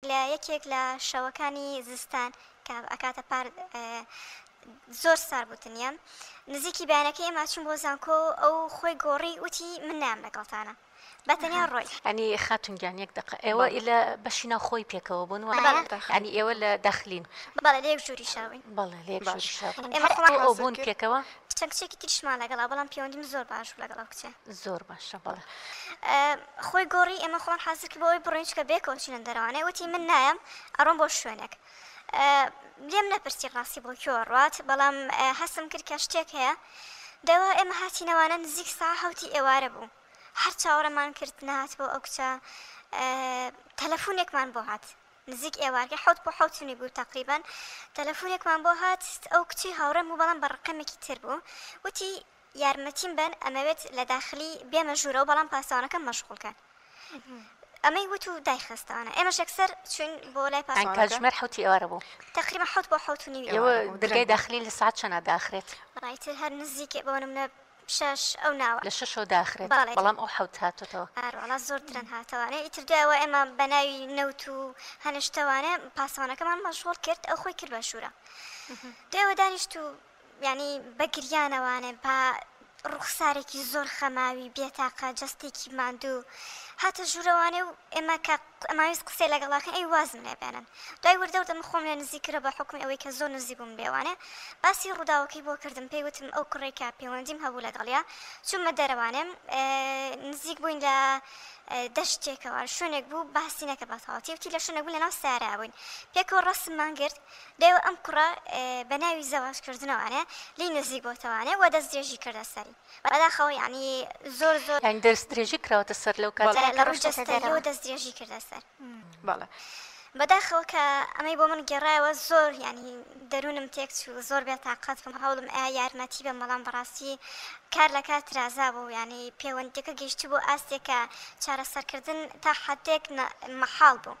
لە یەکێک لە شەوەکانی زستان کە ئەکاتە پار زۆر سار بوو تنیام نزیکی بەیانەکە ئێمە چوم بۆ زانکۆ و ئەو خۆی گۆڕی وتی من نام لەگەڵتانە بەتەنیا ڕۆی ئەنی خاتون گیان یەک دقە ئێوە لە بەشی ناو خۆی پێکەوە بوون ئەنی ئێوە لە داخلین بەڵێ لە یەک ژووری شاوین بەڵێ لە یەک ژووری شاوین ئێمە خۆمان ئەو بوون پێکەوە چەند کچێکی تریشمان لەگەڵا بەڵام پێوەندیم زۆر باش بوو لەگەڵ ئەو کچە زۆر باشە بەڵێ. خۆی گۆڕی ئێمە خۆمان حازر کرد بۆ ئەوەی بڕۆین چونکە بێ کەوت چوینە دەرەوانێ وتی من نایەم ئەڕۆم بۆ شوێنێک لێم نەپرسی ڕاستی بۆ کوێوە ڕات بەڵام هەستم کرد کە شتێک هەیە دەوا ئێمە هاتینەوانە نزیک سا هەوتی ئێوارە بوو هەر چاوەڕێمان کرد نهات بۆ ئەو کچە تەلەفونێکمان بۆ هات نزیک ئێوارگە حوت بۆ حوتنی بوو تقریبان تەلەفونێکمان بۆ هات ئەو کچی هاوڕێم بوو بەڵام بە ڕقەمێکی تر بوو وتی یارمەتیم بەن ئەمەوێت لە داخلی بێمە ژوورەوە بەڵام پاسەوانەکەم مەشغوڵ کەن ئەمەی وت و دایخستانە ئێمەش یەکسەر چوین بۆ لای پاسەوانەکە ئەنکا کاتژمێر حەوتی ئێوارە بوو تقریبا حەوت بۆ حەوت و نیو ئێوە ئێوارە بوو درگای داخلی لە سەعات چەنە داخرێت بەڕای تر هەر نزیکێ بۆ نمونە شەش ئەو ناوە لە شەشەوە داخرێت بەڵێ. بەڵام ئەو حەوت هاتۆتەوە ئار وەڵا زۆر درەن هاتەوانێ ئیتر دوای ئەوە ئێمە بە ناوی نەوت و هەنە شتەوانێ پاسەوانەکەمان مەشغوڵ کرد ئەو خۆی کرد بە ژوورە دوای ئەوە دانیشت و یانی بە گریانەوانێ با ڕوخسارێکی زۆر خەماوی بێتاقە جەستێکی ماندوو هاتە ژوورەوانێ و ئێمە کە ئەماویست قسەی لەگەڵاکەن ئەی وازم لێ بێنن دوای وردەوردە من خۆم لێ نزیک کرا بە حکومی ئەوەی کە زۆر نزیک بووم لێوانێ باسی ڕووداوەکەی بۆ کردم پێی وتم ئەو کوڕێک کە پەیوەندیم هەبوو لەگەڵیا چوومە دەرەوانێم نزیک بووین لە دەشتێکەوە شوێنێک بوو باسی نەکە بە تەواتی وتی لە شوێنێک بوو لەناو سارا بووین پێکەوە ڕسممان گرت دەیەوە ئەم کوڕە بە ناوی زەواج کردنەوانێ لێی نزیک بۆتەوانێ وە دەست درێژی کردە سەری بەداخەوە یانی زۆر زۆر یانی دەست درێژی کراوەتە سەر لەو کاتە لە ڕووی جەستەییەوە دەست درێژی کردە سەر بەڵێ بەداخەوە کە ئەمەی بۆ من گێڕایەوە زۆر یانی دەروونم تێک چوو زۆر بێ تاقەت بووم هەوڵم ئەیا یارمەتی بەم بەڵام بەڕاستی کار لە کار ترازا بوو یانی پێوەندیەکە گەیشتی بۆ ئاستێکە چارەسەرکردن تا حدێک مەحاڵ بوو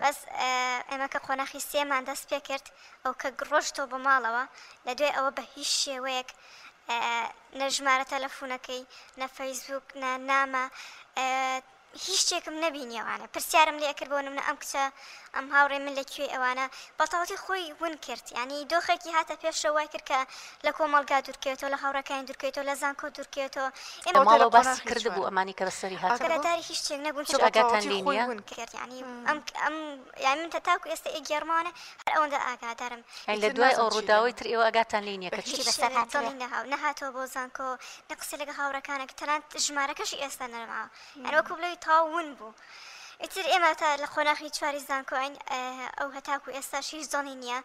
بەس ئێمە کە قۆناخی سێمان دەست پێ کرد ئەو کە گڕۆشتەوە بۆ ماڵەوە لە دوای ئەوە بە هیچ شێوەیەک نەژمارە تەلەفونەکەی نە فەیسبوک نە نامە هیچ شتێکم نەبینیەوانە پرسیارم لێ کرد بۆ منە ئەم کچە ئەم هاوڕێ من لە کوێ ئەوانە بەتاڵی خۆی ون کرد ینی دۆخێکی هاتە پێشەوەی کرد کە لە کۆمەڵگا دورکەوێتەوە لە هاوڕێکانی دورکەوێتەوە لە زانکۆ دورکەوێتەوە ئێمە ماڵەوە باسی کردبوو ئەمانی کە بەسەری هات ئاگاداری هیچ شتێک نەبوون چ ئاگاتان لێ نیە ئەم ئەم یان من تاکو ئێستا ئێگێڕمانە هەر ئەوەندە ئاگادارم ئەی لە دوای ئەو ڕووداوەی تر ئێوە ئاگاتان لێ نیە کە چی بەسەر هات نەهاتەوە بۆ زانکۆ نە قسە لەگە هاوڕەکانە کە تەنانەت ژمارەکەشی ئێستا نەرما ئەرۆ کوب لەوی تاون بوو. ئیتر ئێمە تا لە قۆناخی چواری زانکۆین ئەو هەتاکو ئێستاش هیچ دڵی نییە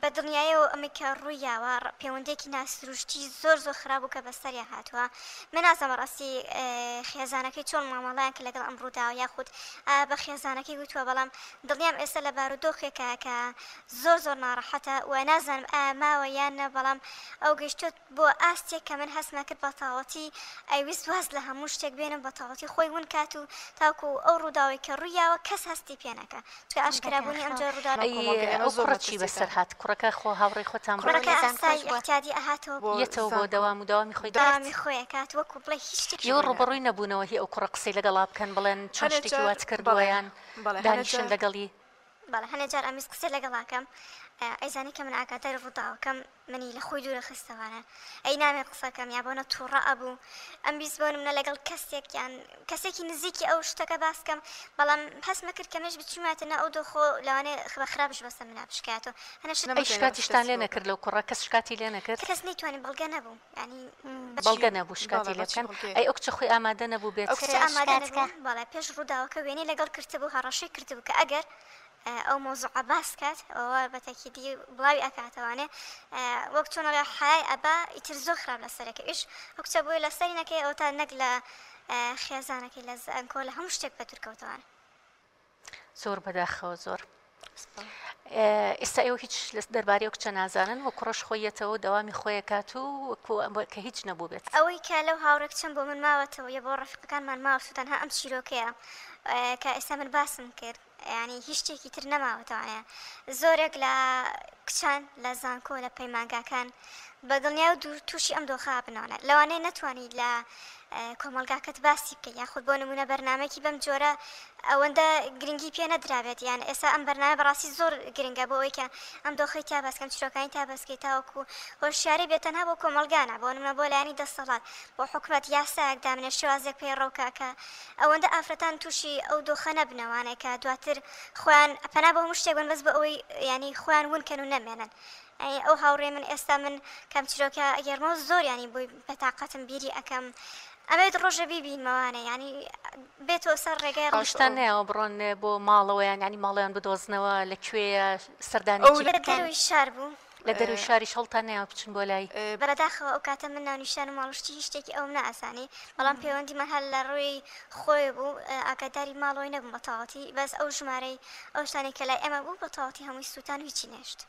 بە دڵنیایەوە ئەمەی کە ڕووی یاوە پێوەندیەکی نا سروشتی زۆر زۆر خراپ و کە بەسەریا هاتوە من نازانم بەڕاستی خێزانەکەی چۆن مامەڵەیان کە لەگەڵ ئەم ڕووداوە یاخود بە خێزانەکەی وتوە بەڵام دڵنیام ئێستا لە بارو دۆخێکە کە زۆر زۆر ناڕەحەتە و نازانم ئایا ماوە یان نە بەڵام ئەو گەشتوت بۆ ئاستێک کە من هەستمە کرد بەتاڵەتی ئەیویست واز لە هەموو شتێک بێنم بەتاڵەتی خۆی ون کات و تاکو ئەو ڕووداوەی کە ڕوویاوە کەس هەستی پێ نەکا چکە ئاشکرا بوونی ئەم جۆرە ڕووداوە ئەی ئەو کوڕە چی بەسەر هات کوڕەکە خۆ هاوڕێی خۆتان بوو کوڕەکە ئاسای ئیعتیادی ئەهاتەوە یەتەوە بۆ دەوام و دەوامی خۆی دەکرد دەوامی خۆی ئەکات وەکو بڵێ هیچ شتێکی ئێوە ڕووبەڕووی نەبوونەوە هی ئەو کوڕە قسەی لەگەڵا بکەن بڵێن چۆن شتێکی وات کردووە یان دانیشن لەگەڵی. بەڵێ هەنێ جار ئەمویست قسەی لەگەڵاکەم ئەیزانی کە من ئاگاداری ڕووداوەکەم منی لە خۆی دوورە خستەوانە ئەی نامێ قسەکەم یا بۆنە تووڕە ئەبوو ئەمویست بۆ منە لەگەڵ کەسێکیان کەسێکی نزیکی ئەو شتەکە باسکەم بەڵام هەست نەکرد کەمێش بچووماتە نە ئەو دۆخۆ لەوانێ خبە خراپش بەسە منە بشکاتەوە هەنە شکاتیشتان لێ نەکرد لەو کوڕە کەس شکاتی لێ نەکرد کەس نەیتوانانی بەڵگە نەبوو بەڵگە نەبوو شکاتی لێ بکەن ئەی ئەو کچە خۆی ئامادە نەبوو بێت؟ ئەو کچە ئامادە نەبوو بەڵێ پێش ڕووداوەکە وێنەی لەگەڵ کرتبوو هەڕەشەی کردبوو کە ئەگەر ئەو مەوزوعە باس کات ئەوە بە تەکیدی بڵاوی ئەکاتەوانێ وەک چۆن ئەڵێ حەیای ئەبا ئیتر زۆر خراپ لە سەرەکە ئیش ئەو کچە بووی لە سەری نەکەی ئەو تا نەک لە خێزانەکەی لە زانکۆ لە هەموو شتێک بە دوورکەوتەوانە زۆر بەداخەوە زۆر ئێستا ئێوە هیچ لە دەربارەی کچە نازانن و کوڕش خۆیەتەوە دەوامی خۆیەکات و کە هیچ نەبوو بێت ئەوەی کە لەو هاوڕێک چەند بۆ من ماوەتەوە یە بۆ ڕفقەکانمان ماوە سووتان هە ئەم چیرۆکەیە کە ئێستا من باسم کرد ینی هیچ شتێکی تر نەماوەتەوانەیە زۆرێک لە کچان لە زانکۆ لە پەیمانگاکان بەدڵنیا و تووشی ئەم دۆخابنەوەە لەوانەیە نەتوانانی لە کۆمەڵگاکەت باسی بکەی یاخود بۆ نمونە بەرنامەیەکی بەم جۆرە ئەوەندە گرنگی پێ نەدرابێت یان ئێستا ئەم بەرنامە بەڕاستی زۆر گرنگە بۆ ئەوەی کە ئەم دۆخی تا باسکەم چیرۆکانی تا بەسکەی تاوەکو هۆشیاری بێت تەنها بۆ کۆمەڵگانە بۆ نمونە بۆ لایەنی دەسەڵات بۆ حکومەت یاسایەک دامنێ شێوازێک پەیڕەوکە کە ئەوەندە ئافرەتان تووشی ئەو دۆخە نەبنە وانەیە کە دواتر خۆیان پەنا بۆ هەموو شتێک بەن بەس بۆ ئەوەی یانی خۆیان ون کەن و نەمێنن ئەی ئەو هاوڕێی من ئێستا من کام چیرۆکە ئەگێرمەوە زۆر یانی بۆی بەتاقەتم بیری ئەکەم ئەبێت ڕۆژێ بیبینمەوانە یانی بێتەوە سەر ڕێگای ڕۆژ شتان نەیەوە بڕۆن بۆ ماڵەوە یان ینی ماڵیان بدۆزنەوە لە کوێیە سەردانی دەروی شار بوو لە دەروی شاریش هەڵتان نەیەوە بچن بۆ لای بەرەداخەوە ئەو کاتە من ناونیشان و ماڵشتی هیچ شتێکی ئەوم ناسانی بەڵام پەیوەندیمان هەر لە ڕووی خۆی بوو ئاگاداری ماڵەوەی نەبووم بە تەواتی بەس ئەو ژمارەی ئەو شتانی کە لای ئێمە بوو بە تەواتی هەمووی سووتان و هیچی نێشت